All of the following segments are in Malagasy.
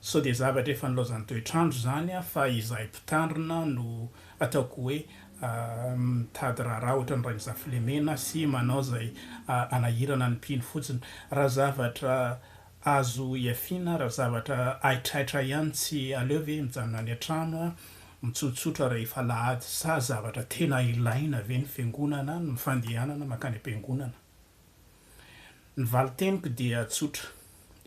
Sao dia zavatra efa nilaozan'ny toetr'andro izany fa izahay mpitandrina no ataoko hoe mitady raharaha ohatran'i Rainizafilemena sy manao izay hanahirana ny mpino fotsiny. Raha zavatra azo ihafiana, raha zavatra haitraitra ihany tsy aleo ve mijanona any an-trano mitsotsotra rehefa alahady? Sa zavatra tena ilaina ve ny fiangonana, ny fandehanana mankany am-piangonana? Ny valin-teniko dia tsotra,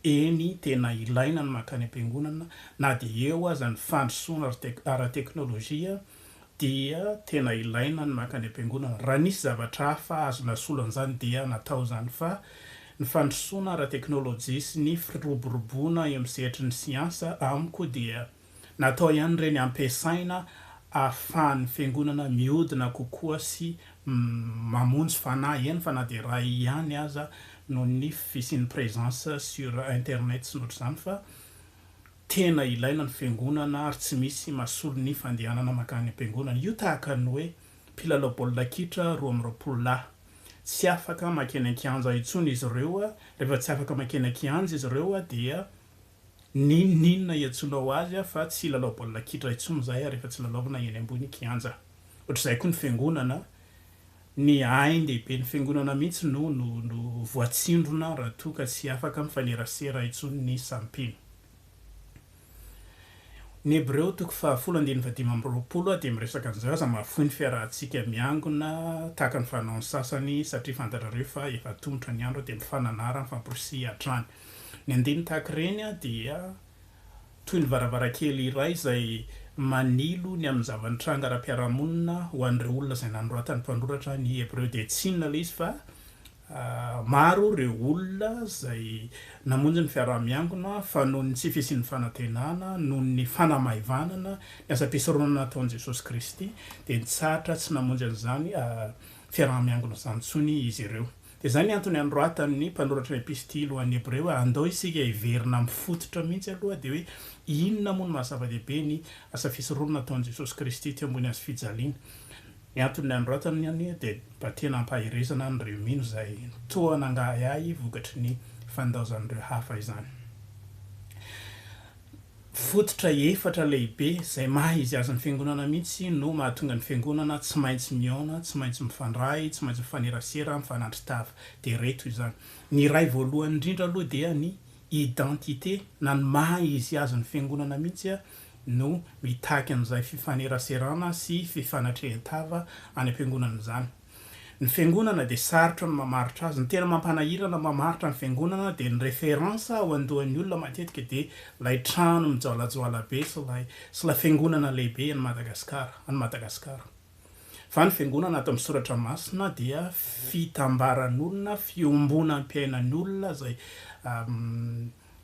eny, tena ilaina ny mankany am-piangonana, na dia eo aza ny fandrosoana ara-teknolojia dia tena ilaina ny mankany am-piangonana. Raha nisy zavatra hafa azo nasolo an'izany dia natao izany fa ny fandrosoana ara-teknolojia sy ny firoboroboana eo amin'ny sehatry ny siansa amiko dia Natao ihany ireny hampiasaina ahafahan'ny Fiangonana mihodina kokoa sy mamonjy fanahy, eny fa na dia iray ihany aza, noho ny fisian'ny présence sur internet sy ny ohatr'izany, fa tena ilaina ny Fiangonana ary tsy misy mahasolo ny fandehanana mankany am-Piangonana. Io tahaka ny hoe mpilalao baolina kitra roa amby roapolo lahy. Tsy afaka makeny an-kianja intsony izy ireo, rehefa tsy afaka makeny an-kianja izy ireo dia N'inon'inona iantsoana ho azy aho fa tsy hilalao baolina kitra intsony izahay ary efa tsy lalaovina eny ambony kianja. Ohatr'izay koa ny fiangonana, ny ain-dehiben'ny fiangonana mihitsy no no voatsindrona raha toa ka tsy afaka mifanerasera intsony ny samy mpino. Ny Hebreo toko fahafolo andininy fahadimy amby roapolo dia miresaka an'izao, Aza mahafoy ny fiarahantsika miangona, tahaka ny fanaon'ny sasany, satria fantatrareo fa efa atomotra ny andro dia mifananara, mifamporisihina hatrany. Ny andininy tahaka ireny dia toy ny varavarankely iray izay manilo ny amin'ny zava-nitranga ara-piarahamonina ho an'ireo olona izay nanoratan'ny mpanoratra ny Hebreo dia tsy inona ilay izy fa maro ireo olona izay namonjy ny fiaraha-miangona fa noho ny tsy fisian'ny fanantenana, noho ny fanamaivanana ny asam-pisoronana nataon'i Jesosy Kristy dia nitsahatra tsy namonjy an'izany fiaraha-miangona izany intsony izy ireo. Dia izay ny antony anoratany ny mpanoratra ny epistily ho an'ny Hebreo hoe, Andao isika hiverina amin'ny fototra mihitsy aloha, dia hoe, Inona moa no maha-zava-dehibe ny asa fisoronana nataon'i Jesosy Kristy teo ambony hazofijaliana? Ny antony nanoratany ny anio dia mba tena hampaherezana an'ireo mino izay toa nangahiahy vokatry ny fandaozan'ireo hafa izany. Fototra efatra lehibe izay maha izy azy ny Fiangonana mihitsy no mahatonga ny Fiangonana tsy maintsy mihaona, tsy maintsy mifandray, tsy maintsy mifanerasera, mifanandri-tava. Dia ireto izany. Ny iray voalohany indrindra aloha dia ny identité na ny maha izy azy ny Fiangonana mihitsy no mitaky an'izay fifaneraserana sy fifanatrehen-tava any am-piangonana izany. Ny fiangonana dia sarotra ny mamaritra azy. Ny tena mampanahirana mamaritra ny fiangonana dia ny reference ao andohan'ny olona matetika dia ilay trano mijoalajoala be sy ilay sy ilay fiangonana lehibe an'i Madagasikara, an'i Madagasikara. Fa ny fiangonana ato amin'ny soratra masina dia fitambaran'olona, fiombonam-piainan'olona izay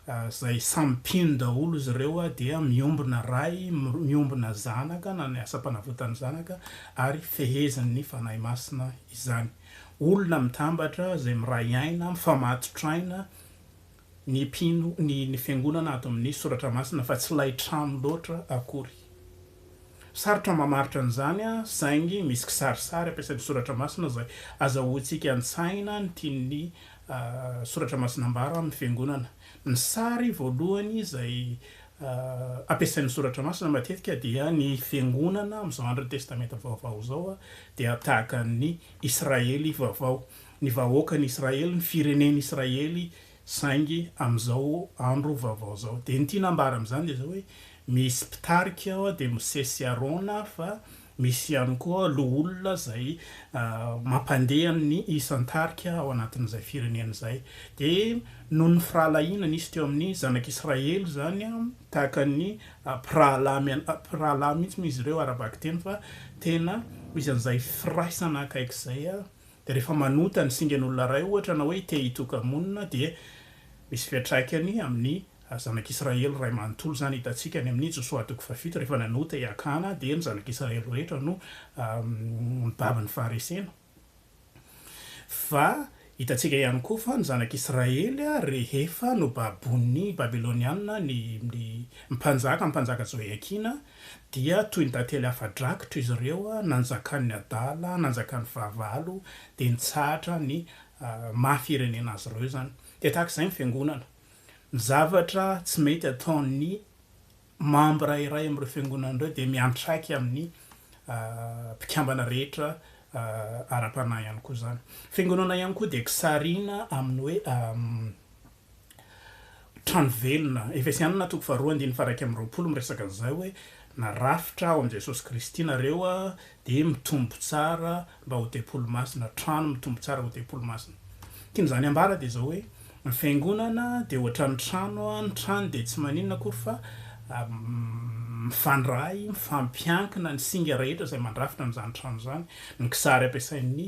izay samy mpino daholo izy ireo dia miombona Ray, miombona Zanaka na ny asam-panavotan'ny Zanaka ary fehezin'ny Fanahy Masina izany. Olona mitambatra izay miray aina, mifamatotra aina ny mpino, ny ny Fiangonana ato amin'ny Soratra Masina fa tsy ilay trano loatra akory. Sarotra ny mamaritra an'izany saingy misy kisarisary ampiasain'ny Soratra Masina izay azahoantsika an-tsaina ny tian'ny Soratra Masina ambara amin'ny Fiangonana. Ny sary voalohany izay ampiasain'ny Soratra Masina matetika dia ny Fiangonana amin'izao andron'ny Testamenta Vaovao izao dia tahaka ny Israely vaovao, ny vahoakan'i Israely, ny firenen'i Israely saingy amin'izao andro vaovao izao. Dia ny tiana ambara amin'izany dia izao hoe Misy mpitarika ao dia Mosesy sy Arona fa misy ihany koa loholona izay mampandeha ny isan-tarika ao anatin'izay firenena izay. Dia noho ny firahalahiana nisy teo amin'ny zanak'Israely izany, tahaka ny mpirahalahy mpirahalahy mihitsy moa izy ireo ara-bakiteny fa tena misy an'izay firaisana akaiky izay. Dia rehefa manota ny singan'olona iray ohatra na hoe te-hitoka-monina dia misy fiantraikany amin'ny Ary zanak'Israely iray manontolo izany hitantsika any amin'i Josoa toko fahafito, rehefa nanota i Akana dia ny zanak'Israely rehetra no mibaby ny faharesena. Fa hitantsika ihany koa fa ny zanak'Israely rehefa nobaboin'ny Babylonianina ny mpanjaka, ny mpanjaka Joiakina, dia toy ny tantely afa-drakitra izy ireo, nanjakan'ny adala, nanjakan'ny fahavalo, dia nitsahatra ny maha firenena azy ireo izany. Dia tahaka izay ny Fiangonana. Ny zavatra tsy mety ataon'ny mambra iray amin'ireo fiangonana ireo dia miantraika amin'ny mpikambana rehetra ara-panahy ihany koa izany. Fiangonana ihany koa dia kisarina amin'ny hoe trano velona. Efesianina toko faharoa andininy faharaika amby roapolo miresaka an'izay hoe, Na rafitra ao amin'i Jesosy Kristy nareo dia mitombo tsara mba ho tempoly masina, trano mitombo tsara ho tempoly masina. Tian'izany ambara dia izao hoe, ny fiangonana dia ohatran'ny trano, ny trano dia tsy maninona akory fa mifandray, mifampiankina ny singa rehetra izay mandrafitra an'izany trano izany. Ny kisary ampiasain'ny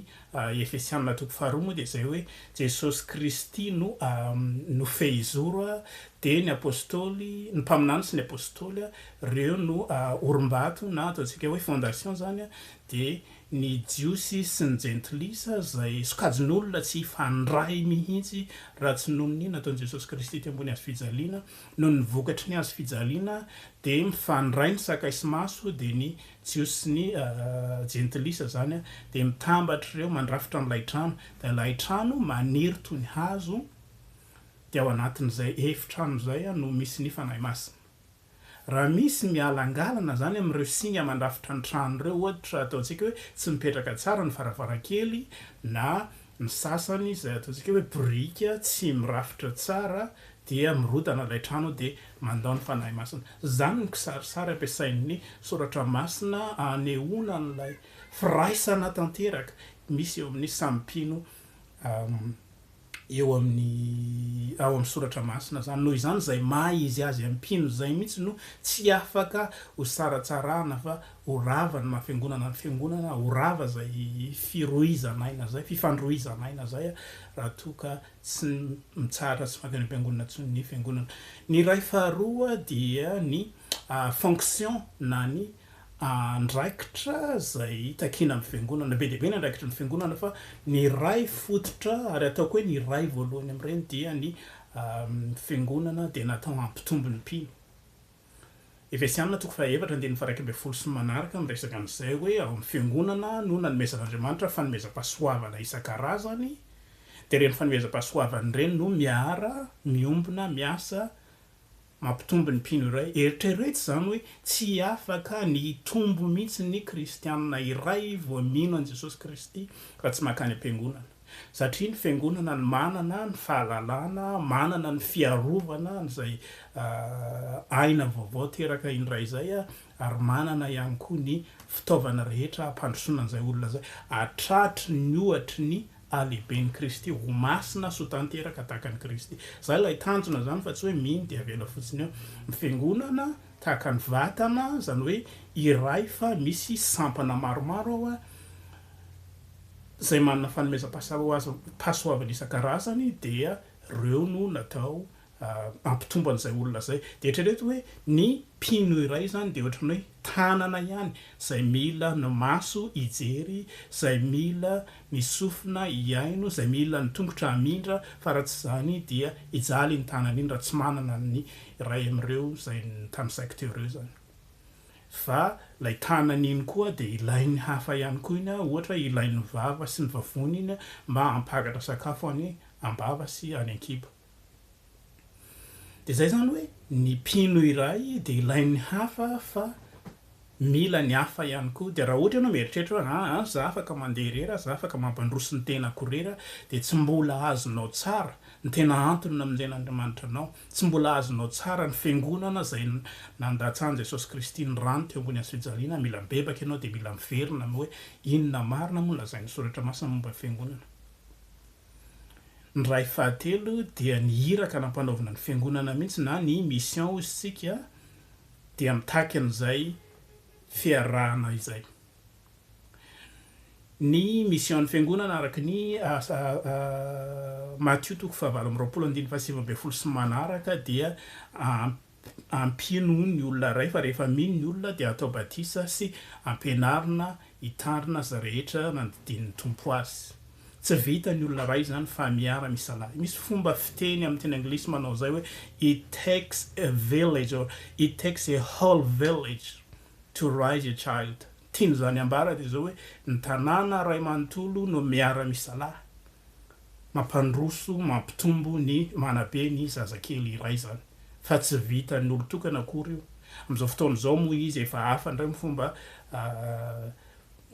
Efesianina toko faharoa moa dia izay hoe, Jesosy Kristy no no fehizoro, dia ny apostoly, ny mpaminany sy ny apostoly ireo no orim-bato na ataontsika hoe fondation izany dia ny Jiosy sy ny Jentilisa, izay sokajin'olona tsy hifandray mihitsy raha tsy noho ny nataon'i Jesosy Kristy teo ambony hazofijaliana, noho ny vokatry ny hazofijaliana dia mifandray ny sakay sy maso, dia ny Jiosy sy ny Jentilisa izany dia mitambatra ireo mandrafitra an'ilay trano, dia ilay trano maniry toy ny hazo, dia ao anatin'izay efitrano izay no misy ny Fanahy Masina. Raha misy mialangalana izany amin'ireo singa mandrafitra ny trano ireo, ohatra, ataontsika hoe tsy mipetraka tsara ny varavarankely na ny sasany izay ataontsika hoe biriky tsy mirafitra tsara dia mirodana ilay trano dia mandao ny Fanahy Masina. Izany no kisarisary ampiasain'ny Soratra Masina hanehoana an'ilay firaisana tanteraka misy eo amin'ny samy mpino. eo amin'ny ao amin'ny soratra masina izany, noho izany izay maha izy azy mpino izay mihitsy no tsy afaka ho saratsarahana fa ho rava ny maha fiangonana ny fiangonana, ho rava izay firohizan'aina izay, fifandrohizan'aina izay raha toa ka tsy mitsahatra tsy mankany am-piangonana intsony ny fiangonana. Ny iray faharoa dia ny fonction na ny andraikitra izay takiana amin'ny Fiangonana. Be dia be ny andraikitry ny Fiangonana fa ny iray fototra ary ataoko hoe ny iray voalohany amin'ireny dia ny Fiangonana dia natao hampitombo ny mpino. Efesiana toko fahaefatra andininy faha iraika ambin'ny folo sy ny manaraka miresaka an'izay hoe ao amin'ny Fiangonana no nanomezan'Andriamanitra fanomezam-pahasoavana isan-karazany dia ireny fanomezam-pahasoavana ireny no miara miombona miasa Mampitombo ny mpino iray. Eritrereto izany hoe tsy afaka ny hitombo mihitsy ny Kristianina iray vao mino an'i Jesosy Kristy raha tsy mankany am-piangonana. Satria ny fiangonana no manana ny fahalalana, manana ny fiarovana an'izay aina vaovao teraka indray izay ary manana ihany koa ny fitaovana rehetra hampandrosoana an'izay olona izay, hatratry ny ohatry ny halehiben'i Kristy, ho masina sy ho tanteraka tahaka an'i Kristy. Izany ilay tanjona izany fa tsy hoe mino dia avela fotsiny eo. Ny Fiangonana tahaka ny vatana, izany hoe iray fa misy sampana maromaro ao izay manana fanomezam-pahasoavana isan-karazany dia ireo no natao hampitombo an'izay olona izay. Dia eritrereto hoe ny mpino iray izany dia ohatran'ny hoe tanana ihany izay mila ny maso hijery, izay mila ny sofina hihaino, izay mila ny tongotra hamindra fa raha tsy izany dia hijaly iny tanana iny raha tsy manana ny iray amin'ireo izay nitanisaiko teo ireo izany. Fa ilay tanana iny koa dia ilain'ny hafa ihany koa iny, ohatra ilain'ny vava sy ny vavony iny mba hampakatra sakafo any am-bava sy any an-kibo. Dia izay izany hoe ny mpino iray dia ilain'ny hafa fa mila ny hafa ihany koa. Dia raha ohatra ianao mieritreritra hoe aa izaho afaka mandeha irery, izaho afaka mampandroso ny tenako irery dia tsy mbola azonao tsara ny tena antony namonjen'Andriamanitra anao. Tsy mbola azonao tsara ny fiangonana izay nandatsahan'i Jesosy Kristy ny rany teo ambony hazofijaliana. Mila mibebaka ianao dia mila miverina amin'ny hoe inona marina moa no lazain'ny Soratra Masina momba ny fiangonana. Ny ray fahatelo dia ny iraka nampanaovina ny fiangonana mihitsy na ny mission hozy isika dia mitaky an'izay fiarahana izay. Ny mission ny fiangonana araka ny Matio toko fahavalo amby roapolo andininy fahasivy ambin'ny folo sy manaraka dia Ampino ny olona iray fa rehefa mino ny olona dia atao batisa sy ampianarina hitandrina izay rehetra nandidian'ny Tompo azy. Tsy vitan'ny olona iray izany fa miara misalahy. Misy fomba fiteny amin'ny teny anglisy manao izay hoe it takes a village or it takes a whole village to raise a child. Tian'izany ambara dia izao hoe ny tanàna iray manontolo no miara misalahy mampandroso, mampitombo ny manabe ny zazakely iray izany fa tsy vitan'ny olon-tokana akory io. Amin'izao fotoana izao moa izy efa hafa indray ny fomba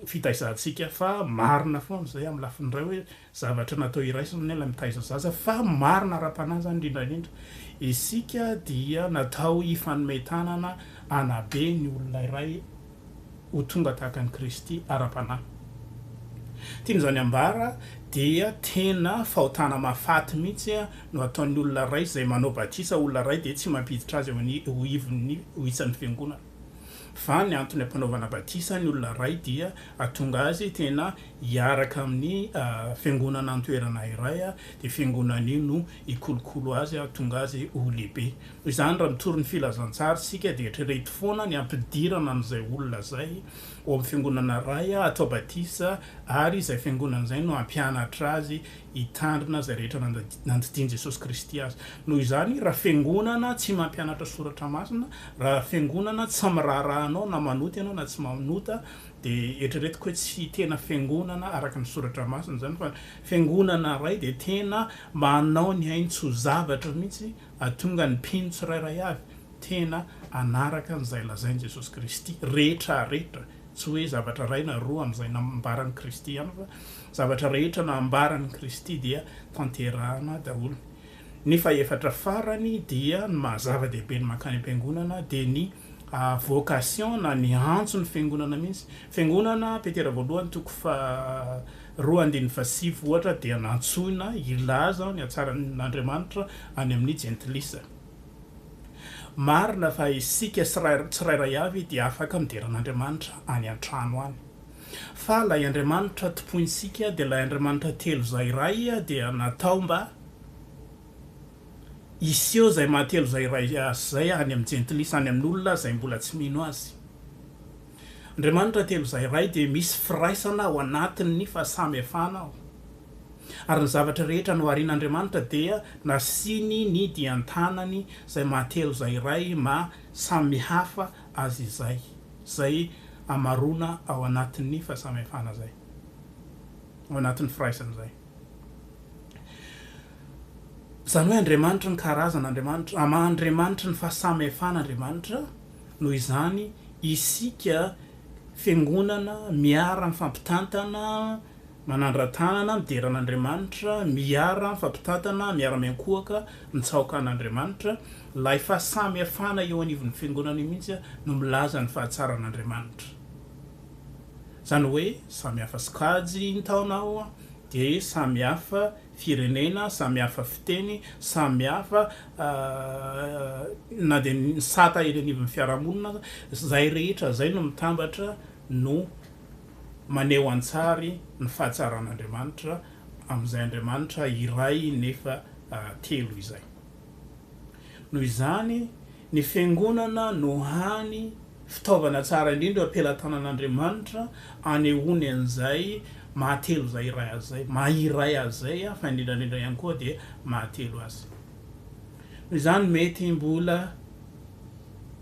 fitaizantsika fa marina foana izay amin'ny lafiny iray hoe zavatra natao iraisana ilay mitaiza zaza fa marina ara-panahy izany indrindra indrindra. Isika dia natao hifanome tanana hanabe ny olona iray. ho tonga tahaka an'i Kristy ara-panahy. Tiany izany ambara dia tena fahotana mahafaty mihitsy no ataon'ny olona iray izay manao batisa olona iray dia tsy mampiditra azy ho ivon'ny ho isan'ny fiangonana. Fa ny antony ampanaovana batisa ny olona iray dia atonga azy tena hiaraka amin'ny fiangonana an-toerana iray dia fiangonana io no hikolokolo azy atonga azy ho lehibe. Noho izany, raha mitory ny Filazantsara isika, dia eritrereto foana ny hampidirana an'izay olona izay ao amin'ny Fiangonana iray, hatao batisa, ary izay Fiangonana izay no hampianatra azy hitandrina izay rehetra nandidian'i Jesosy Kristy azy. Noho izany, raha Fiangonana tsy mampianatra soratra masina, raha Fiangonana tsy miraharaha anao na manota ianao na tsy manota, dia eritreretiko hoe tsy tena Fiangonana araka ny soratra masina izany, fa Fiangonana iray dia tena manao ny ainy tsy ho zavatra mihitsy Atonga ny mpino tsirairay avy tena hanaraka an'izay lazain'i Jesosy Kristy rehetra rehetra, tsy hoe zavatra iray na roa amin'izay nambaran'i Kristy ihany fa zavatra rehetra nambaran'i Kristy dia tanterahana daholo. Ny fahefatra farany dia ny maha zava-dehibe ny mankany am-piangonana dia ny. vocation na ny antso ny fiangonana mihitsy. Fiangonana, Petera voalohany toko faha roa andininy faha sivy ohatra dia nantsoina hilaza ny hatsaran'Andriamanitra any amin'ny jentilisa. Marina fa isika tsirairay avy dia afaka midera an'Andriamanitra any an-trano any. Fa ilay Andriamanitra tompointsika dia ilay Andriamanitra telo izay iray dia natao mba Hiseho izay mahatelo izay iray azy izay any amin'ny jentilisa, any amin'olona izay mbola tsy mino Azy. Andriamanitra telo izay iray dia misy firaisana ao anatin'ny fahasamihafana ao. Ary ny zavatra rehetra noharian'Andriamanitra dia nasiany ny dian-tanany izay mahatelo izay iray maha samihafa azy izay, izay hamaroana ao anatin'ny fahasamihafana izay, ao anatin'ny firaisana izay. Izany hoe Andriamanitry ny karazana Andriamanitra, am Andriamanitry ny fahasamihafana Andriamanitra, noho izany isika Fiangonana miara mifampitantana, manandra-tanana, midera an' Andriamanitra, miara mifampitantana, miara miankohoka, mitsaoka an' Andriamanitra, ilay fahasamihafana eo anivon' ny Fiangonana io mihitsy no milaza ny fahatsaran' Andriamanitra. Izany hoe samy hafa sokajy ny taona ao dia samy hafa firenena, samy hafa fiteny, samy hafa na dia ny sata eny anivon'ny fiarahamonina aza. Izay rehetra izay no mitambatra no maneho an-tsary ny fahatsaran'Andriamanitra amin'izay Andriamanitra iray nefa telo izay. Noho izany Ny Fiangonana no hany fitaovana tsara indrindra pelatanan'Andriamanitra anehoany an'izay mahatelo izay iray Azy izay, maha iray Azy izay, fa indrindra indrindra ihany koa dia mahatelo Azy. Noho izany mety mbola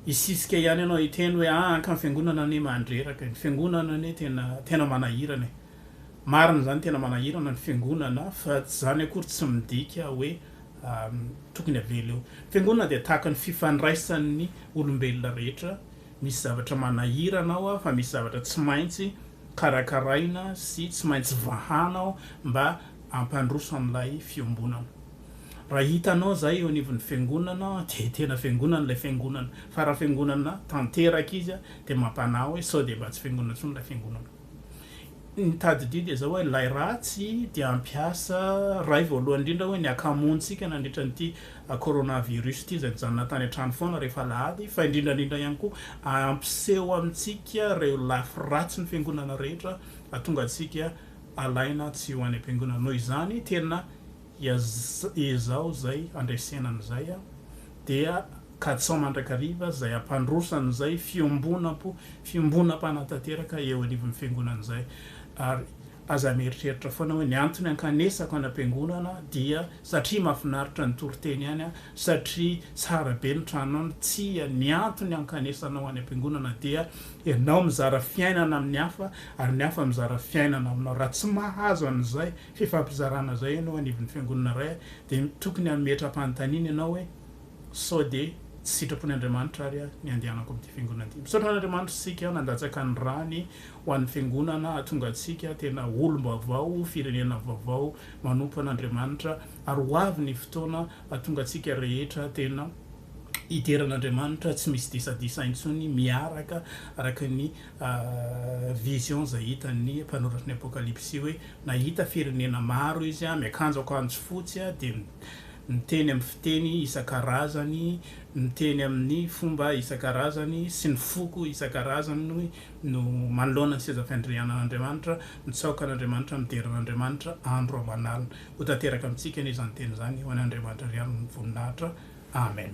hisisika ihany ianao hiteny hoe, ah, ka ny Fiangonana anie mandreraka e, ny Fiangonana anie tena, tena manahirana e. Marina izany tena manahirana ny Fiangonana, fa izany akory tsy midika hoe tokony havela eo. Fiangonana dia tahaka ny fifandraisan'ny olombelona rehetra, misy zavatra manahirana ao fa misy zavatra tsy maintsy karakaraina sy tsy maintsy vahana ao mba hampandroso an'ilay fiombonana. Raha hitanao izay eo anivon'ny fiangonana dia tena fiangonana ilay fiangonana fa raha fiangonana tanteraka izy dia mampanahy hoe sao dia mba tsy fiangonana intsony ilay fiangonana. Mitady didy izao hoe ilay ratsy dia hampiasa iray voalohany indrindra hoe ny akamontsika nandritra an'ity coronavirus ity izay mijanona tany an-trano foana rehefa alahady fa indrindra indrindra ihany koa hampiseho amintsika ireo lafy ratsy ny fiangonana rehetra hahatonga antsika alaina tsy ho any am-piangonana. Noho izany tena Dia ezaho izay handresena an'izay a! Dia katsaho mandrakariva izay hampandroso an'izay fiombonam-po, fiombonam-panatanteraka eo anivon'ny Fiangonana izay. Ary aza mieritreritra foana hoe ny antony ankanesako any am-piangonana dia satria mahafinaritra ny toriteny any a, satria tsara be ny tranonao any, tsia, ny antony ankanesanao any am-piangonana dia ianao mizara fiainana amin'ny hafa ary ny hafa mizara fiainana aminao. Raha tsy mahazo an'izay fifampizarana izay ianao anivon'ny fiangonana iray dia tokony hametra-panontaniana ianao hoe sao dia tsy sitrapon' Andriamanitra ary aho ny andehanako amin'ity fiangonana ity. Misaotra an'Andriamanitra isika nandatsaka ny rany ho an'ny fiangonana hahatonga antsika tena olom-baovao, firenena vaovao manompo an'Andriamanitra ary ho avy ny fotoana hahatonga antsika rehetra tena hidera an'Andriamanitra tsy misy disadisa intsony miaraka araka ny vision izay hitan'ny mpanoratra ny Apokalypsy hoe nahita firenena maro izy miakanjo akanjo fotsy dia miteny amin'ny fiteny isan-karazany, miteny amin'ny fomba isan-karazany sy ny foko isan-karazany no manoloana ny seza fiandrianan'Andriamanitra, mitsaoka an'Andriamanitra, midera an'Andriamanitra andro aman'alina. Ho tanteraka amintsika anie izany teny izany, ho an'Andriamanitra ry ihany ny voninahitra. Amen.